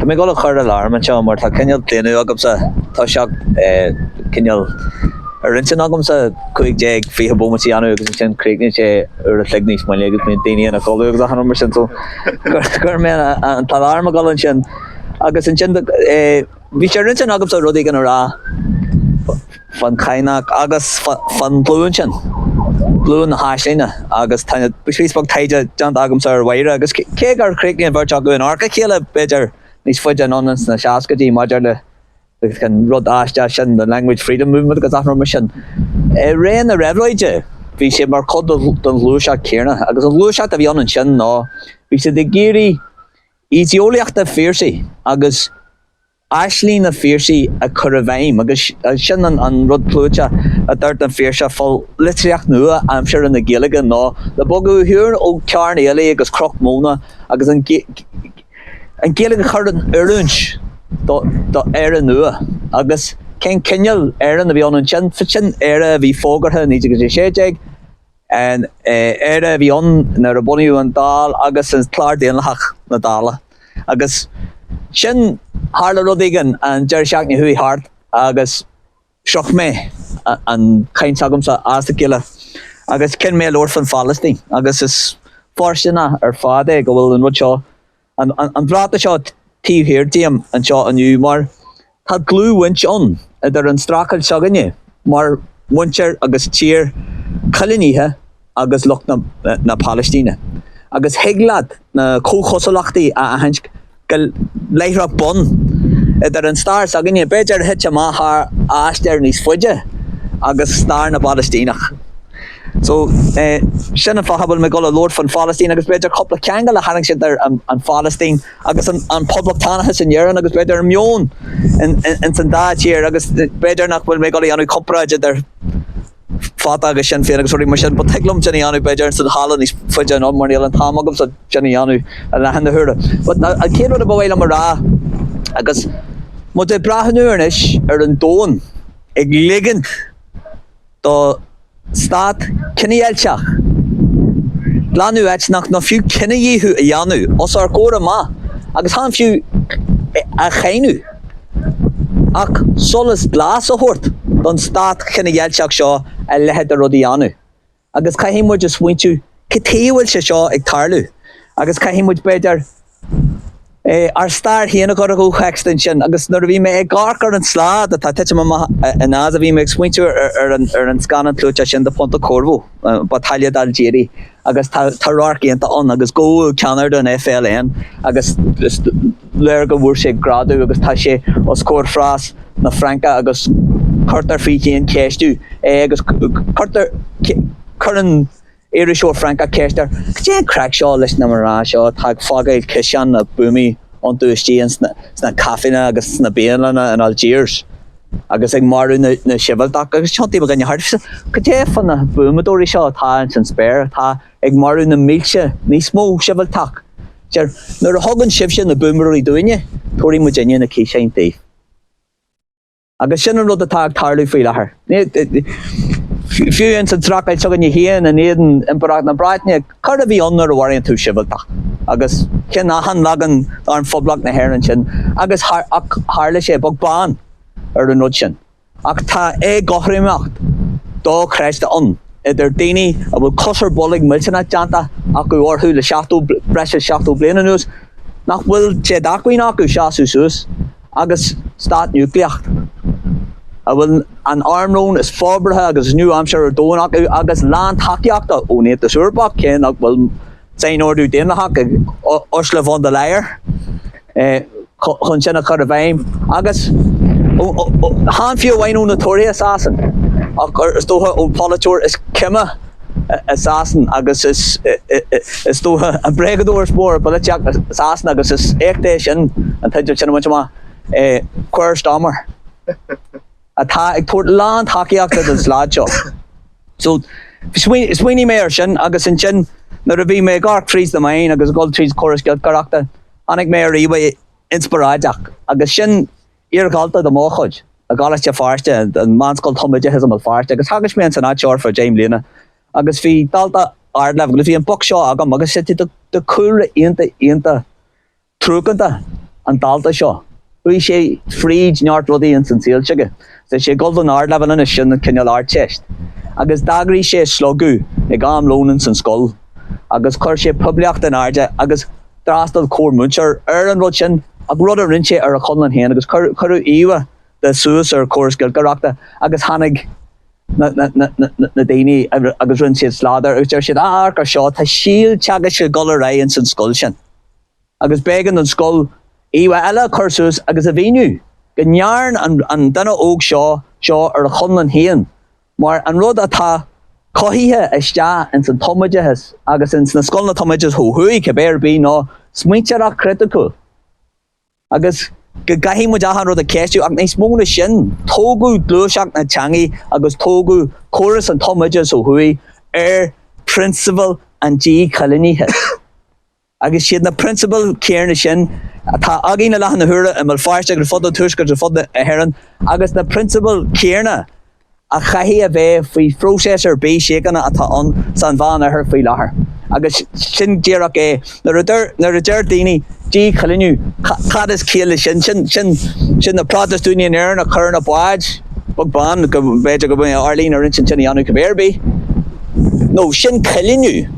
Tá mé ag dul a chur aláram anseo mar tá cineál claonadh agamsa toiseacht cineál ar intinn agamsa cúig déag fiche bómaite a dhéanamh agus ansin críochnaíonn sé uair a chloig níos moille agus bíonn daoine ina gcodladh agus achan rud mar sin so chuir mé an t-aláram ag dul ansin agus ansin Bhí sé ar intinn agamsa rud éigin a rá fán Chadhnach agus fán ghlúin sin, glúin na haislinge agus tá píosa beag taighde déanta agamsa ar Mháire agus cé gur chríochnaigh an bheirt acu in adharca a chéile b'fhéidir níos faide anonn ins na seascaidí maidir le an rud aisteach sin the Language Freedom Movement agus achan rud mar sin. I ré na reabhlóide bhí sé mar chuid don ghluaiseacht céanna agus an ghluaiseacht a bhí ann ansin ná bhí siad ag iarraidh Idé-eolaíocht an Phiarsaigh agus aisling an Phiarsaigh a chur i bhfeidhm agus sin an rud clúiteach a dúirt an Phiarsach fá litríocht nua aimsire na Gaeilge ná le bogadh ar shiúl ó carn aoiligh agus cruach móna agus an Ghaeilge a chur in oiriúint do Éire nua agus cén cineál Éireann a bhí ann ansin, sin Éire a bhí fógartha i 1916. An Éire a bhí ann nuair a bunaíodh an Dáil agus an Clár Daonlathach na Dála. Agus sin, tharla rud éigin an deireadh seachtaine a chuaigh thart agus stróic mé an chaint s'agamsa as a chéile agus chinn mé a labhairt faoin Phalaistín agus is fóirsteanach ar fad é go bhfuil an rud seo An bhratach seo taobh thiar díom anseo inniu mar tá dlúthbhaint ann idir an streachailt s'againne mar mhuintir agus tír coilínithe agus lucht na Palaistíne agus thig leat na comhchosúlachtaí a aithint go láithreach bonn idir an stair s'againne, b'fhéidir a thit amach thar aistear níos faide, agus stair na bPalaistíneach. So, sin an fáth a bhfuil mé ag dul a labhairt faoin Phailistín agus b'fhéidir cúpla ceangal a tharraingt idir an Phailistín agus an poblachtánachas in Éirinn agus b'fhéidir an meon ins an dá thír agus b'fhéidir nach bhfuil mé ag dul a dhéanamh comparáid idir Fatah agus Sinn Féin agus rudaí mar sin, but thig liom sin a dhéanamh b'fhéidir ins an halla níos faide anonn mar níl an t-am agamsa sin a dhéanamh i láthair na huaire. But an chéad rud a ba mhaith liom a rá agus muid ag breathnú anois ar an domhan ag ligint do stát cinedheighilteach, glanadh eitneach nó fiú cinedhíothú a dhéanamh os ár gcomhair amach agus chan fiú a cháineadh ach solas glas a thabhairt don stát chinedheighilteach seo a leithéid de rud a dhéanamh agus caithfidh muid a smaointiú cad chuige a bhfuil sé seo ag tarlú agus caithfidh muid b'fhéidir ár stair féin a chur i gcomhthéacs dúinn sin agus nuair a bhí mé ag amharc ar an slad atá ag titim amach i nGaza bhí mé ag smaointiú ar an scannán clúiteach sin de Pontecorvo, Battaglia d'Algeri agus tá tá radharc iontach ann agus go bhfuil ceannaire den FLN agus is léir go bhfuair sé greadadh agus tá sé os comhair phreas na Fraince agus cuirtear faoi thréan ceistiú é agus cuirtear cuireann iriseoir Francach ceist air, cad é an craic seo leis na mná seo atá ag fágáil ciseáin na buamaí iontu istigh sna caiféanna agus sna bialanna in Algiers agus ag marú na sibhialtach agus tiontaíonn mo dhuine thart Cad é fá na buamadóirí seo atá ins an spéir atá ag marú na mílte níos mó sibhialtach Deir, Nuair a thugann sibhse na buamadóirí dúinne, tabharfaidh muidinne na ciseáin daoibh. Agus sin an rud atá ag tarlú faoi láthair. Fiú ins an streachailt s'againne féin, in éadan Impireacht na Breataine, coir a bhí ann nuair a mharaíonn tú sibhialtach. Agus cháin achan leagan d'Arm Phoblacht na hÉireann sin. Agus tharla sé beag beann ar an rud sin. Ach tá éagothromaíocht dochreidte ann idir daoine a bhfuil cos ar bolg millteanach déanta acu orthu le breis is seachtó bliain anuas nach bhfuil sé d'acmhainn acu seasamh suas, agus stát núicléach, a bhfuil an armlón is forbartha agus is nua-aimseartha ar domhan acu, agus lán tacaíochta ón Aontas Eorpach, cé nach bhfuil sainordú daonlathach ag Ursula von der Leyen chun sin a chur i bhfeidhm, agus chan fiú amháin ó na Tóraithe i Sasain, ach is dócha ón pholaiteoir is caime. i Sasain agus is dócha an bréagadóir is mó i bpolaitíocht na Sasan agus is éacht é sin an teideal sin a bhaint amach. Keir Starmer atá ag tabhairt lán tacaíochta don slad seo. So smaoinigh mé ar sin agus ansin nuair a bhí mé ag amharc tríd na meáin agus ag dhul tríd córas giolcaireachta tháinig mé ar íomhá inspioráideach agus sin Iar-dhalta de mo chuid i gColáiste Feirste, an meánscoil tumoideachais i mBéal Feirste, agus theagasc mé ins an áit ar feadh deich mbliana. Agus bhí dalta ardleibhéil, agus bhí an boc seo agam, agus is de chúlra iontach iontach truacánta an dalta seo. Chuaigh sé fríd neart rudaí ins an saol s'aige. Tá sé ag dul don ardleibhéal anois, sin an cineál Ardteist. Agus d'eagraigh sé slógadh ag am lón ins an scoil, agus chuir sé poiblíocht in airde, agus. D'fhreastal corrmhúinteoir ar an rud sin, ach rud a rinne sé ar a chonlán féin, agus cuireadh íomhá de suas ar chóras giolcaireachta agus tháinig na daoine agus rinne siad slad air agus deir siad, Á, amharc ar seo, tá síolteagasc ag dul ar aghaidh ins an scoil sin. Agus b'éigean don scoil íomhá eile a chur suas agus a mhíniú go ndearn an duine óg seo seo ar a chonlán féin Mar an rud atá cothaithe isteach ins an tumoideachas agus ins na scoileanna tumoideachais ó thuaidh, cibé ar bith, ná smaointeoireacht chriticiúil. Agus go gcaithfidh muid achan rud a cheistiú, ach níos mó ná sin, tógadh gluaiseacht na teangaí agus tógadh córas an tumoideachais ó thuaidh ar prionsabail an díchoilínithe. Agus siad na prionsabail chéarna sin atá againn i láthair na huaire i mBéal Feirste agus ar fud an Tuaiscirt agus ar fud na hÉireann agus na prionsabail chéarna a chaithfidh a bheith faoi phróiseas ar bith síochána atá ann san Mheán-Oirthear faoi láthair. Agus sin díreach é. Nuair a deir, nuair a deir daoine, díchoilíniú, ca, cad is ciall leis sin? Sin, sin, sin na Protastúnaigh in Éirinn a chur ar na báid, beag beann, go mb'fhéidir go mbeidh Arlene ar intinn sin a dhéanamh cibé ar bith. No, sin coilíniú.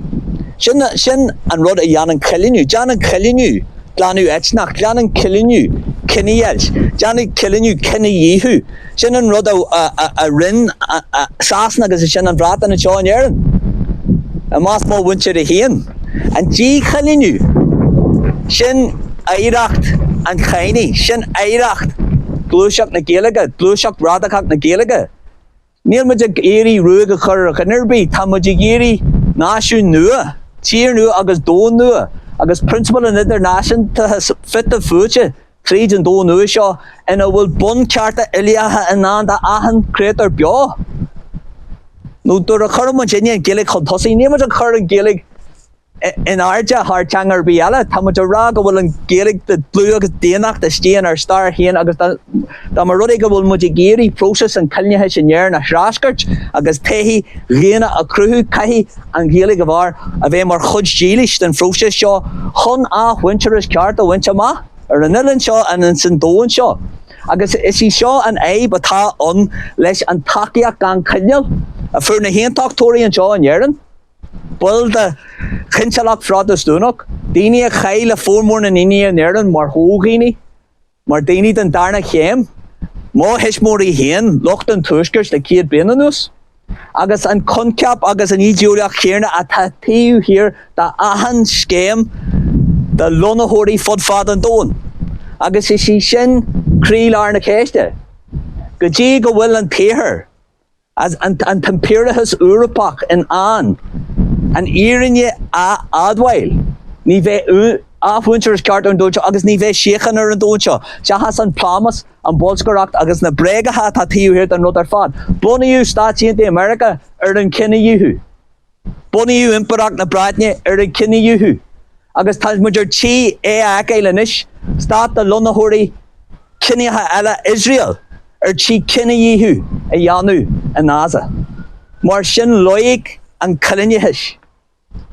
Sin, sin an rud a dhéanann coilíniú. Déanann coilíniú glanadh eitneach, déanann coilíniú cinedheighilt, déanann coilíniú cinedhíothú. Sin an rud a, a, a, a rinn Sasana agus ansin an Bhreatain anseo in Éirinn, i measc mo mhuintire féin. An díchoilíniú, sin oidhreacht an Chadhnaigh, sin oidhreacht ghluaiseacht na Gaeilge, gluaiseacht radacach na Gaeilge. Níl muid ag iarraidh ruaig a chur ar dhuine ar bith, tá muid ag iarraidh náisiún nua, tír nua agus domhan nua, agus prionsabail an idirnáisiúntachais fite fuaite tríd an domhan nua seo ina bhfuil bunchearta uilíocha i ndán d'achan chréatúr beo. Nó nuair a chuireann muidinne an Ghaeilge chun tosaigh, níl muid ag cur an Ghaeilge in airde thar teanga ar bith eile. Tá muid a rá go bhfuil an Ghaeilge de dhlúth agus d'inneach istigh inár stair féin agus dá dá mba rud é go bhfuil muid ag iarraidh próiseas an choilíneachais in Éirinn a threascairt agus todhchaí dhaonna a chruthú, caithfidh an Ghaeilge a bharr a bheith mar chuid dílis den phróiseas seo chun athmhuintearas ceart a bhaint amach ar an oileán seo ins an domhan seo. Agus is í seo an fhadhb atá ann leis an tacaíocht gan choinníoll a fuair na hAontachtóirí anseo in Éirinn. Baill de Chinsealacht Phrotastúnach, daoine a chaith le formhór na ndaoine in Éirinn mar fhodhaoine, mar dhaoine den darna chéim, mo thuismitheoirí féin, lucht an Tuaiscirt le céad bliain anuas, agus an coincheap agus an ídéolaíocht chéarna atá taobh thiar d'achan scéim do lonnaitheoirí fud fad an domhain. Agus is í sin croílár na ceiste, go dtí go bhfuil an tIarthar. Is an t-impiriúlachas Eorpach in ann an fhírinne a admháil. Ní bheidh athmhuintearas ceart ar an domhan seo agus ní bheidh síocháin ar an domhan seo. Seachas an plámás, an bholscaireacht agus na bréagacha atá taobh thiar den rud ar fad, bunaíodh Stáit Aontaithe Meiriceá ar an chinedhíothú. Bunaíodh Impireacht na Breataine ar an chinedhíothú agus tá muid ar tí é a fheiceáil anois, stát de lonnaitheoirí ciníocha eile, Iosrael, ar tí cinedhíothú a dhéanamh i nGaza. Mar sin loighic an choilíneachais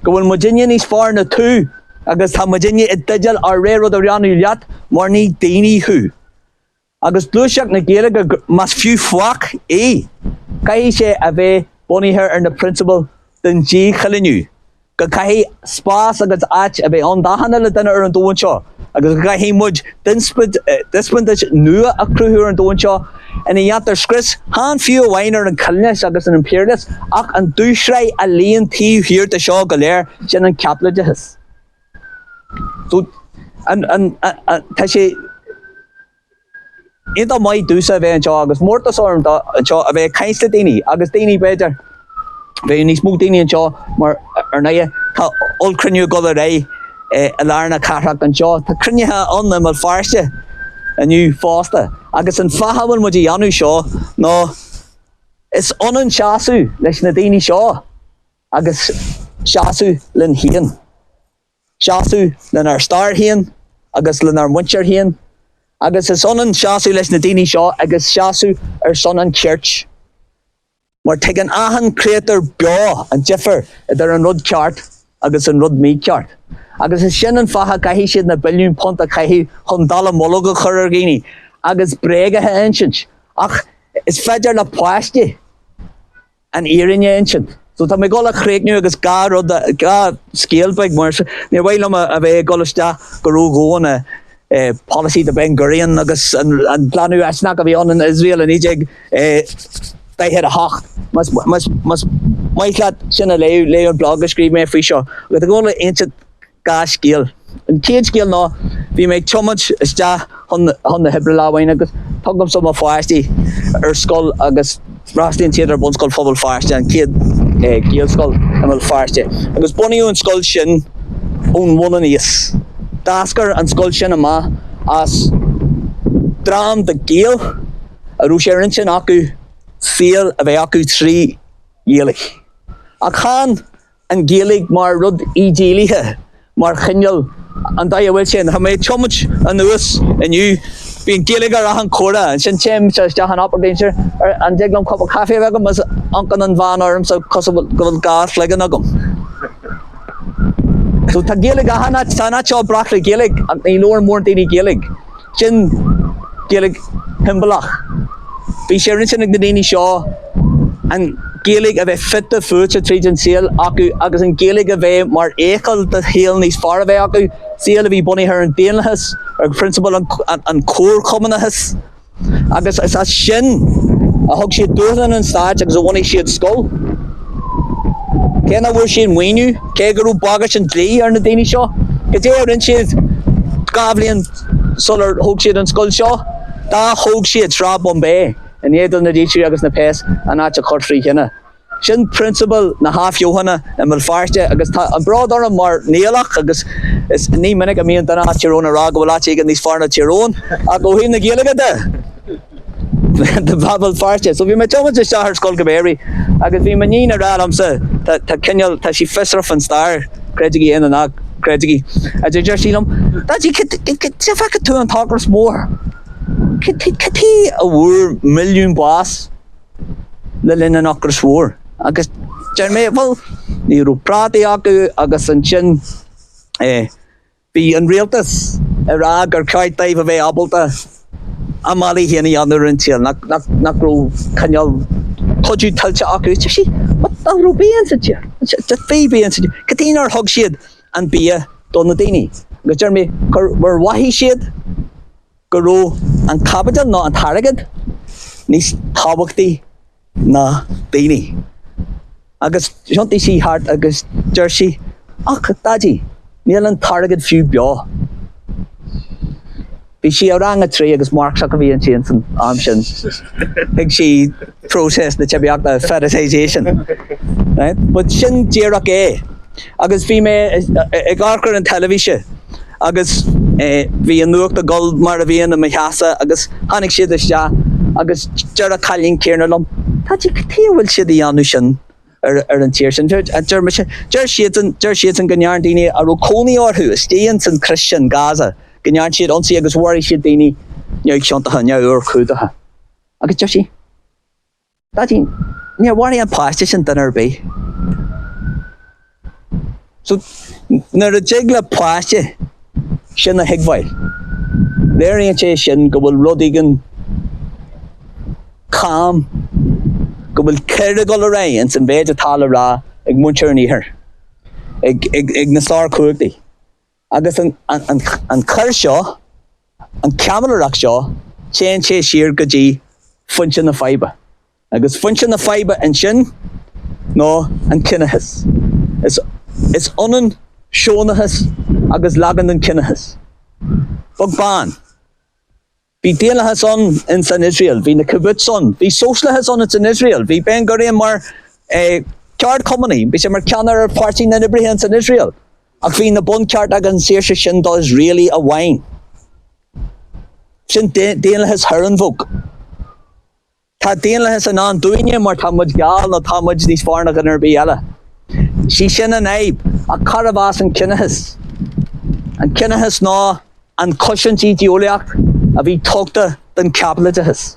go bhfuil muidinne níos fearr ná tú agus tá muidinne i dteideal ár rogha rud a dhéanamh leat mar ní daoine thú. agus gluaiseacht na Gaeilge más fiú faic í, caithfidh sé a bheith bunaithe ar na prionsabail den díchoilíniú, go gcaithfidh spás agus áit a bheith ann d'achan uile dhuine ar an domhan seo agus go gcaithfidh muid dispeansáid nua a chruthú ar an domhan seo ina ndéantar scrios chan fiú amháin ar an choilíneachas agus an impiriúlachas ach an dúshraith a luíonn taobh thiar de seo go léir, sin an Caipitleachas. Tá sé iontach maith domhsa a bheith anseo agus mórtas orm do anseo a bheith ag caint le daoine agus daoine b'fhéidir bheidh níos mó daoine anseo mar ar ndóigh tá ollchruinniú ag dul ar aghaidh i lár na cathrach anseo. Tá cruinnithe ann i mBéal Feirste inniu fosta agus an fáth a bhfuil muid á dhéanamh seo ná is ionann seasamh leis na daoine seo. agus seasamh linn féin. Seasamh lenár stair féin agus lenár muintir féin agus is ionann seasamh leis na daoine seo agus seasamh ar son an chirt mar tuigeann achan chréatúr beo an difear idir an rud ceart agus an rud mícheart. Agus is sin an fáth a gcaithfidh siad na billiúin punt a chaitheamh chun dallamullóg a chur ar dhaoine agus bréaga a insint ach is féidir le páistí an fhírinne a insint. So tá mé ag dul a chríochnú agus dhá rud, dhá scéal beag mar níor mhaith liom a bheith ag dul isteach go ródhomhain i policy de Ben Gurion agus an glanadh eitneach a bhí ann in Iosrael i 1948. Más maith leat sin a léamh, léigh an blog a scríobh mé faoi seo. Agus tá mé ag dul a insint Dhá scéal. An chéad scéal ná bhí mé ag tiomáint isteach chun na hoibre lá amháin agus tugaimse mo pháistí ar scoil agus freastalaíonn siad ar Bhunscoil Phobal Feirste, an chéad Ghaelscoil i mBéal Feirste. Agus bunaíodh an scoil sin ón bhun aníos. D'eascair an scoil sin amach as dream de Ghaeil a raibh sé ar intinn acu saol a bheith acu trí Ghaeilge. Ach chan an Ghaeilge mar rud idéalaithe, mar chineál an dóigh a bhfuil sé ann. Tá mé ag tiomáint anuas inniu, bíonn Gaeilge ar achan chomhartha, ansin téim isteach in Applegreen, an dtig liom cupa caife a bheith agam is amharcann an bhean ormsa cosúil go bhfuil dhá chloigeann agam. So tá Gaeilge achan áit, tá an áit seo breac le Gaeilge ach ní labhrann mórán daoine Gaeilge. Sin Gaeilge shiombalach. Bhí sé ar intinn ag na daoine seo an Ghaeilge a bheith fite fuaite tríd an saol acu agus an Ghaeilge a bheith mar fheithicil do shaol níos fearr a bheith acu, saol a bhí bunaithe ar an daonlathas, ar phrionsabail an comharchumannachais. Agus is as sin a thug siad dúshlán an stáit agus a bhunaigh siad scoil. Cé nach bhfuair siad maoiniú, cé go raibh bagairt an dlí ar na daoine seo, cad é a rinne siad dhá bhliain sular thóg siad an scoil seo? D'atóg siad Sráid Bombay i ndiaidh do na dílseoirí agus na péas an áit a chur trí thine. Sin prionsabal na hathbheochana i mBéal Feirste agus tá an bród orm mar Niallach agus is ní minic a mbíonn duine as Tír Eoghain ag rá go bhfuil áit éigin níos fearr ná Tír Eoghain ach ó thaobh na Gaeilge de! tá Béal Feirste. So bhí mé ag tiomáint isteach ar scoil go b'fhéarraí agus bhí m'iníon ag rá liomsa tá tá cineál tá sí fiosrach faoin stair, creidigí é nó ná creidigí. a deir deir sí liom Daidí cad cad cad cad feicfidh tú an t-ocras mór? Cad cad cad chuige a bhfuair milliún bás le linn an ocrais mhóir? Agus deir mé bhuel ní raibh prátaí acu agus ansin eh Bhí an rialtas ag rá gur cheart dóibh a bheith ábalta a mbealaí féin a dhéanamh ar an tsaol, nach raibh cineál cuidiú tuillte acu. Is deir sí, nach raibh bia sa tír, má bhí bia sa tír, cad chuige nár thug siad an bia do na daoine. Agus deir mé, gur mhothaigh siad, go raibh an caipiteal nó an t-airgead níos tábhachtaí ná daoine. Agus thiontaigh sí thart agus deir sí, Ach, Daidí, níl an t-airgead fiú beo. Bhí sí i rang a trí agus Marxach a bhí inti san am sin. Thuig sí. process na teibíochta, fetishization, right? But sin díreach é. Agus bhí mé ag amharc ar an teilifíse agus bhí an nuacht ag dul mar a bhíonn i mo theachsa agus tháinig siad isteach agus deir an cailín céanna liom, Daidí, cad chuige a bhfuil siad a dhéanamh sin ar an tír sin? Deir mise, deir siadsan, deir siadsan go ndearna daoine a raibh cónaí orthu istigh ins an chrios sin, Gaza, go ndearna siad ionsaí agus mharaigh siad daoine neamhchiontacha, neamhurchóideacha. Agus deir sí, Daidí, níor mharaigh an páiste sin duine ar bith. So, nuair a dtig le páiste sin a thuigbheáil, léiríonn sé sin go bhfuil rud éigin cam, go bhfuil coir ag dul ar aghaidh san mhéid atá le rá ag muintir an Iarthair, ag, ag, ag na sárchumhachtaí. Agus an choir seo, an chaimiléireacht seo, téann sé siar go dtí foinse na faidhbe. Agus foinse na faidhbe ansin ná an ciníochas. Is ionann Siónachas agus leagan den ciníochas. Bog bán. Bhí daonlathas ann in san Iosrael. Bhí na kibbutz ann. Bhí sóisialachas ann in san Iosrael. Bhí Ben Gurion mar eh ceardchumannaí. Bhí sé mar ceannaire ar Pháirtí na nOibrithe in san Iosrael. Ach bhí na bunchearta agus an saoirse sin do Iosraelaigh amháin. Sin daonlathas Herrenvolk. Tá daonlathas i ndán dúinne mar tá muid geal nó tá muid níos fearr ná duine ar bith eile. Sí sin an fhadhb, ach cárb as an ciníochas? An ciníochas ná an chosaint idé-eolaíoch a bhí tugtha don chaipitleachas.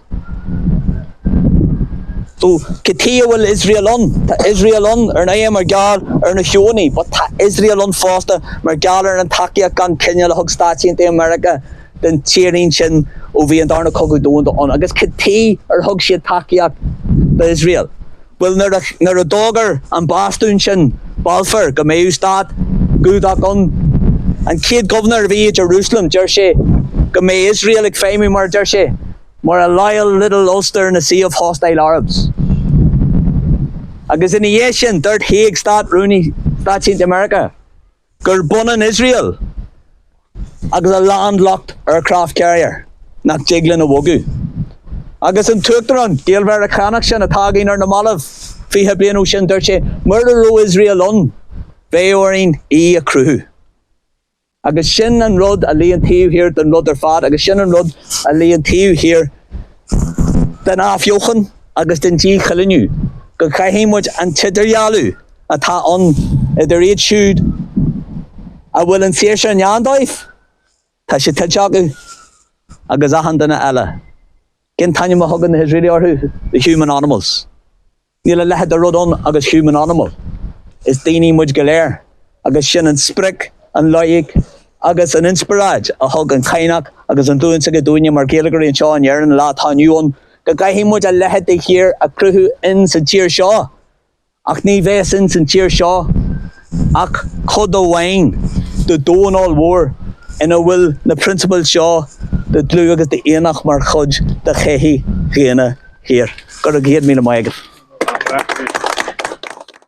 So, cad chuige a bhfuil Iosrael ann? Tá Iosrael ann ar ndóigh mar gheall ar na Siónaigh, but tá Iosrael ann fosta mar gheall ar an tacaíocht gan coinníoll a thug Stáit Aontaithe Mheiriceá, don tírín sin ó bhí an Darna Cogadh Domhanda ann agus cad chuige ar thug siad tacaíocht do Iosrael? Bhuel, nuair a d'fhógair an bastún sin, Balfour, go mbeadh stát Giúdach ann, an chéad gobharnóir a bhí i Jerusalem, deir sé go mbeadh Iosrael ag feidhmiú mar a deir sé, mar a loyal little Ulster in a sea of hostile Arabs. Agus ina dhiaidh sin, dúirt Haig, Stát Rúnaí Stáit Aontaithe Mheiriceá, Gurb ionann Iosrael agus a landlocked aircraft carrier nach dtig linn a bhogadh. Agus an tUachtarán, Gael-Mheiriceánach sin atá againn ar na mallaibh, fiche bliain ó sin, dúirt sé, mura raibh Iosrael ann, bheadh orainn í a chruthú. Agus sin an rud a luíonn taobh thiar den rud ar fad, agus sin an rud a luíonn taobh thiar den athbheochan agus den díchoiliniú, go gcaithfidh muid an t-idirdhealú, atá ann idir iad siúd a bhfuil an saoirse i ndán dóibh, tá sé tuillte acu, agus achan duine eile. Cén t-ainm a thugann na hIosraelaigh orthu? The human animals. Níl a leithid de rud ann agus human animal. Is daoine muid go léir, agus sin an sprioc, an loighic agus an inspioráid a thug an Cadhnach agus an ghlúin s'aige dúinne mar Ghaeilgeoirí anseo in Éirinn an lá atá inniu ann, go gcaithfidh muid a leithid de thír a cruthú in sa tír seo. Ach ní bhéas ins an tír seo ach cuid amháin de dhomhan ollmhór ina bhfuil na prionsabail seo de dlúth agus de inneach mar chuid de shochaí dhaonna shaor. Go raibh céad míle maith agaibh.